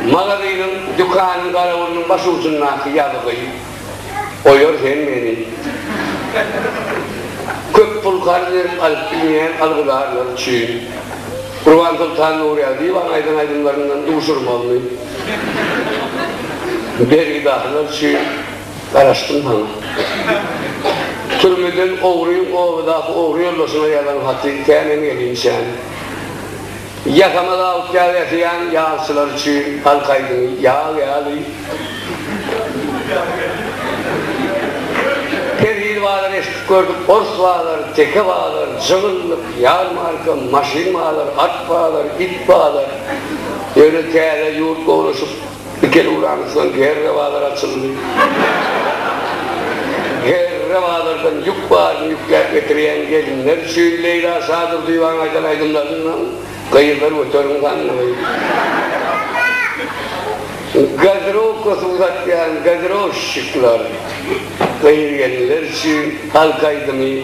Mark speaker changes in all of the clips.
Speaker 1: Magazynyň, dükanyň garawulynyň başucundaky ýazgy oýar hemmeni. Köp pul karz berip alyp bilmeýän algydarlar üçin. Gurbansoltan Nurýagdyýewanyň aýdan aýdymlaryndan duşurmagyny bergidahylar üçin garaşdym saňa. Türmeden ogryň obadaky ogry ýoldaşyňa ýazan haty kämen gelinçäň. Ýakamyz awutýag ýasaýan ýagçylar üçin halk aýdymy ýag ýaly. Perhili bazar eşidip gördük, ors bazar, teke bazar, jygynlyk, ýarmarka, maşyn bazar, at bazar, it bazar. Ýöne täze ýurt gowlaşyp. Ikili ulanysdan GR bazar açyldy. GR bazardan ýük baryny ýükläp getirýän gelinler üçin Leýla Şadurdyýewanyň aýdan aýdymlaryndan Gyzlar göteriň sandygy, Gazirowka suw satýan gazirowşşikler, Gyz gelinler üçin halk aýdymy,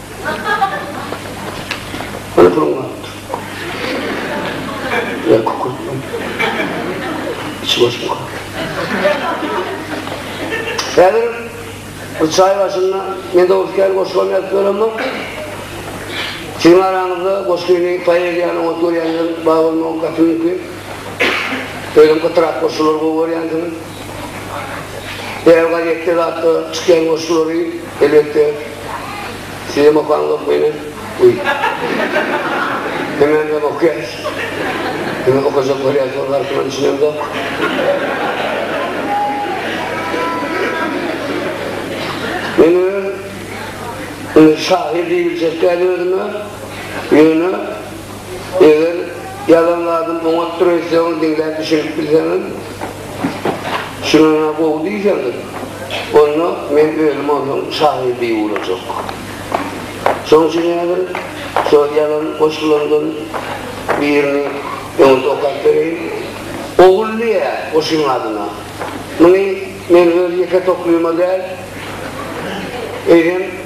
Speaker 1: çaý başynda men dogruskär goşulan ýazyp göremok. Siziň araňyzda goşgyny poeziýany oňat görýänler bar bolmagy gapyňky. Özüm gytrak goşgulary gowy görýänsiňiz. Eger gazetde zatda çykýan goşgulary elbetde Sizem okaňyzok meni? Uý. Hemäňizem okaýarys. Indi okajak bolýarsyňyz artyndan düşünemzok. Men öz indi şahyr diýibiljek däl özüme. Ýöne Eger ýazan zadym oňatdyr eýsegem diňläp düşünip bilseňiz şunana gowy diýseňiz onda men özüm ondan şahyr diýip ugrajak. Şoň üçin häzir şol ýazan goşgularymdan birini öňüňize okap bereýin. Ogul diýýär goşgyň adyna. Muny men öz ýeke toklyma däl, eýsem,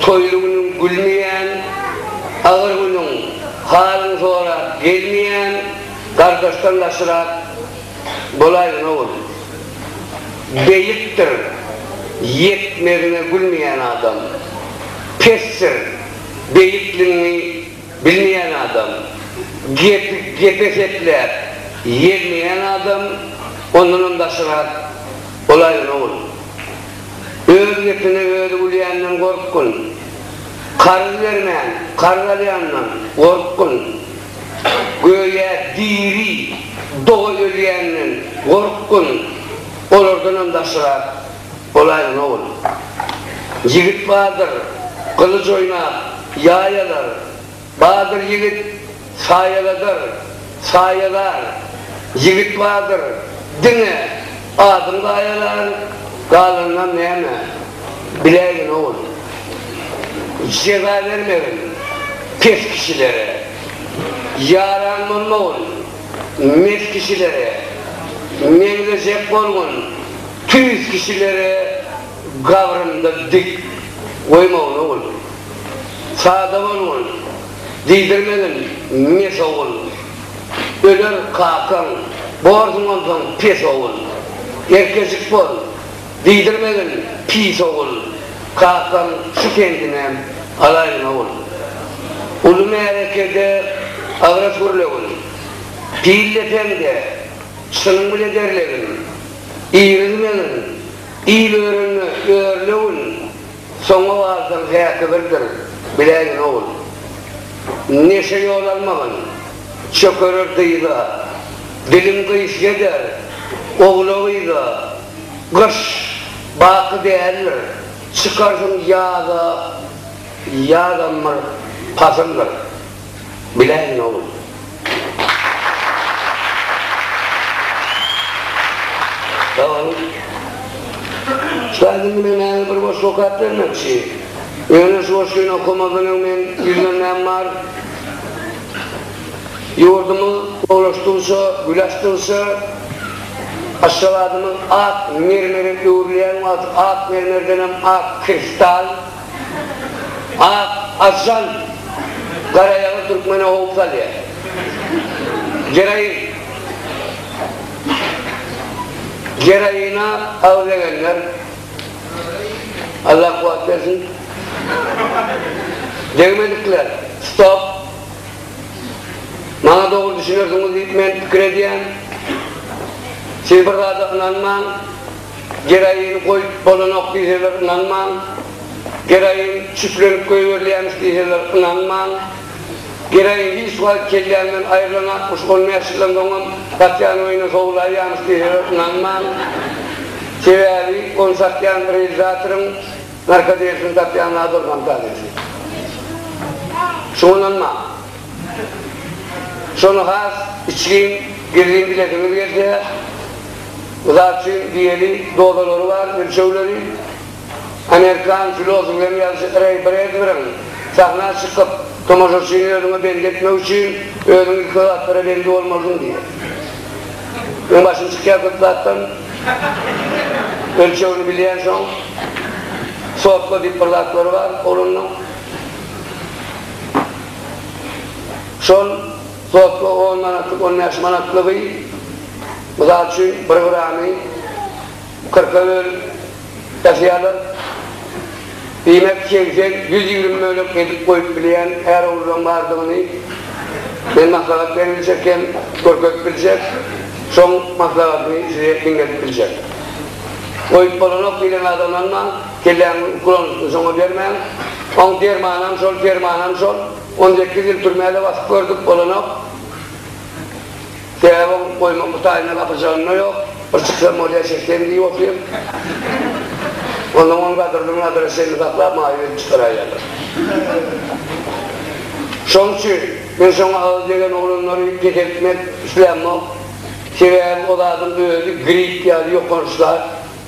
Speaker 1: Toýly günüň gülmeýän, agyr günüň halyňy sorap gelmeýän gardaşdan ýagşyrak bolaýyn ogul. Beýikdir ýetmezine gülmeýän adam. Pesdir beýikligiňi bilmeýän adam. Gepi gepe sepläp ýermeýän adam ondanam daşyrak bolaýyn ogul. Öz gepine özi gülýänden gorkgyn. Karz bermän, karz alýandan gorkgyn. Göýä diri doga ölýänden gorkgyn. Olardanam daşrak bolaýgyn, ogul. Ýigit bardyr, gylyj oýnap, ýaý alar. Badyr ýigit saýaladar, saýalar, Ýigit badyr, diňe adyň gaýalar, Galanynam näme, biläýgin ogul. Jeza bermegin pes kişilere, Ýaran bolmagyn mes kişilere, Meňzejek bolgun tüýs kişilere, Gabrymda dik goýmagyn ogul. Sada bolgun, diýdirmegin, mes ogul. Öler kakaň, borsuň onsoň pes ogul. Erkejik bol, diýdirmegin, pis ogul. Kakaň şu kendinem alaýyn ogul. Uly märekede agras gürlegin. Pil depeňde çynyň bile derlegin. Irizmegin, il örenne örlegin. Soňa galsaň häki birdir, biläýgin ogul. Neşe ýol almagyn, çökerer dyza. Diliň gyş ýeder, ogla-gyza. Gyş, baky däldir, çykarsyň ýaza. Ýazam bir pasyldyr. Biläýin oglum. Salam. Ussat indi men mäňe bir goşgy okap bermekçi. Ýöne şu goşgyny okamazdan öň men ýüzlenmäm bar. Ýurdumyz gowulaşdygyça, gül açdygyça, Aşgabadymyz ak mermere öwrülýän wagty ak mermerdenem ak kristal, Ak ajan garaýagyz türkmene howp salýar. Geroin. Geroina agyz egenler Allah kuwat bersin. Degmedikler. Stop. Maňa dogry düşünersiňiz diýip men pikir edýän. Siz bir zada ynanmaň. Geroin goýup bolanok diýseler ynanmaň, geroin çüplenip goýberilýämiş diýseler ynanmaň. Geroin hiç wagt kellämden aýrylanakmyş, on bäş ýyldan soňam gatýan oýuna sowulaýýamyş diýseler ynanmaň. Sebäbi ony satýan realizatoryň narkodelisini satýan zady ol fantazisini. Şuňa ynanmaň. Şony has içgin, gizlin bilesiňiz gelse, Uzakçyň diýeli dozalary bar, ölçegleri. Amerikan filosofynyň ýazyjy Reý Bredberiň sahna çykyp, tomaşaçyny özüňe bendi etmek üçin, özüň ilki zatlara bendi bolmalydyň diýýär. Meň başym çykýar köp zatdan. Ölçegini bilýänsoň, sotla diýip bir zatlary bar oglanlaň. Şol. Sotlyk on manatlyk, on bäş manatlygy, mysal üçin, bir gramy kyrka bölüp ýasaýarlar. Diýmek, segsen, ýüz ýigrimi bölek edip goýup bilýän är-oglullaň bardygyny men maslahat berip biljek hem görkezip biljek, şoň maslahatymy size diňledip biljek. Goýup bolanok diýlen adamlaryň-a kelläňiziň uklanyşyny şoňa bermäň. Oň dermanam şol, permanam şol. On sekiz ýyl türmäde basyp gördük, bolanok. Sebäbi oň goýmakly taýyna gapyrjagynda ýok. Bir çyksam bolýa, çeksem diýip oturýan. Onsoň ony gadyrdan gadyra çenli saklap, maýyp edip çykaraýýarlar. Şonuň üçin men şoňa agyz degen oglanlary peseltmek islämok. Sebäbi o zadyň özi grip ýaly ýokanç zat.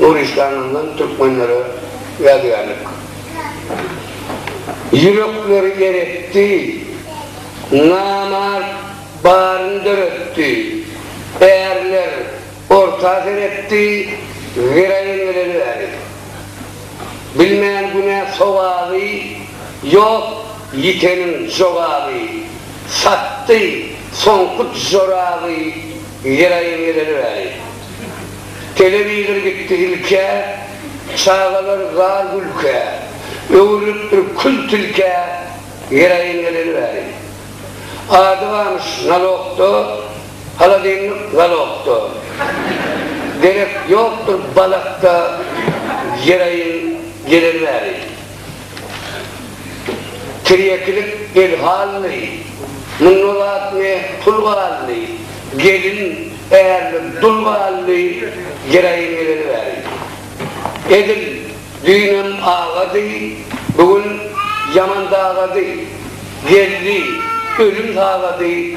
Speaker 1: Nurişdanyndan türkmenlere ýadygärlik. Ýürekleri eretdi. Namart baryny döretdi. Ärler orta seretdi, Giraýyn geleli bäri. Bilmän günä sogaby, Ýok ýiteniň jogaby. Satdy soňky joraby, Giraýyn geleli bäri. Telewizor gitdi ilkä, Çagalar zar gülkä, Öwrülip bir kül tilkä, Geraýin geleli bäri. Ady bamyş nalogda, Haladenlik zalogda, Derek ýokdur balakda, Geraýin geleli bäri. Tirýekilik el halyny, munda zat ne, pul galyny, gelin, ärlik, dul galyny, jeraýym geleni bäri. Edil düýnem agady, bu gün ýaman dagady, geldi, ölüm sagady,